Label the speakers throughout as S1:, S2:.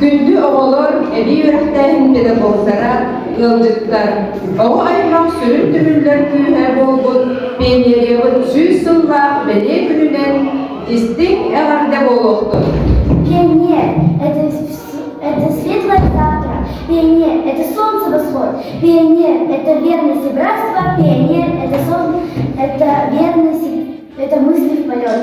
S1: Күндү оҕолор, эбии үөрэхтээһин педагогтара, ыалдьыттар! Оҕо аймах сүрүн түмүллэр күүһэ буолбут пионериябыт сүүс сыллаах бэлиэ күнүнэн истиҥ эҕэрдэ буолуохтун! Пионер – это, это светлое завтра, пионер – это солнце восход, пионер – это верность и братство, пионер – это, сон, это верность, это мысли в полет.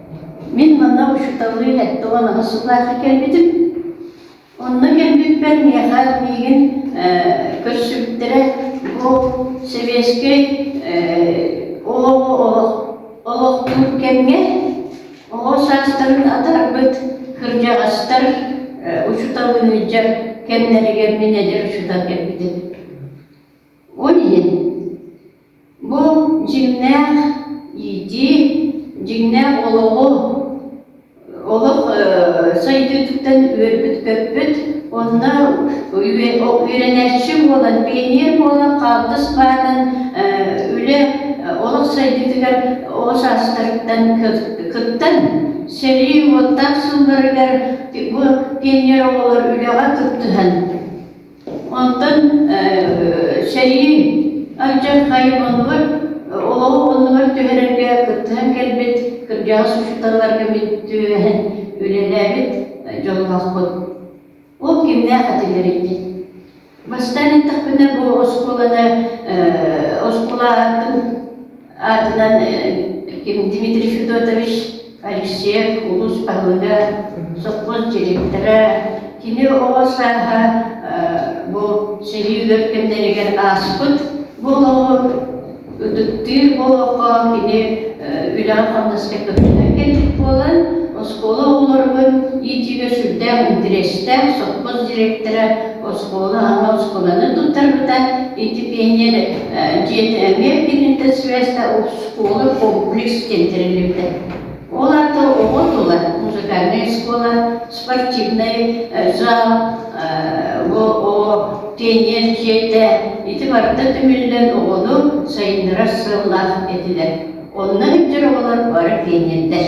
S1: Мин манна учууталлыы тоҕон аһасылаахы кэлбитим. Онно кэлбиппэр миэхэ миигин көрсүбүттэрэ бу сэбиэскэй олохтуур кэмҥэ оҕо саастарын атарбыт кырдьаҕастар учууталлыы илдьэр кэмнэригэр мин эдэр учуутал кэлбитим. Ол иһин Бу дьиҥнээх иитии, дьиҥнээх олоҕу, олох сайдыытыттан үөрбүт-көппүт, онно үөрэнээччи буолан, пионер буолан, хаалтыс баатан үлэ олох сайдыытыгар ол саастарыттан кыттан, сэрии уоттаах сылларыгар бу пионер оҕолор үлэҕэ кыттыһан Онтон сэрии алдьархайы оннугар олоҕу оннугар түһэрэргэ кыттыһан кэлбит, кырдьаҕас учууталларга бүттүһэн үлэлээбит дьоллоохпут. Ол кимнээх этилэрий? Бастаан эттэхпинэ, бу оскуоланы, оскуола атын аатынан Дмитрий Федотович Алексеев улуус баһылыга сопхуос директора кини оҕо сааһа бу сэрии өр кэмнэригэр ааспыт буолуо ытыктыыр буолуохха кини үлэҕэ-хамнаска көмөлөһөн кэлбит буолан оскуола оҕолоругун иитиигэ сүрдээх интэриэстээх сопхуос директора оскуола аҕа оскуоланы туттарбыта. Итипиэнньэр дьиэтэ эмиэ кинитэ связьта оскуола комплекс диэн тэриллибитэ. Ол аата оҕо тула музыкальнай оскуола, спортивнай зал, ООО тиэнниэр дьиэтэ ити барыта түмүллэн оҕону сайыннарар сыаллаах этилэр. Онно бүтэр оҕолор бары тиэнньэрдэр.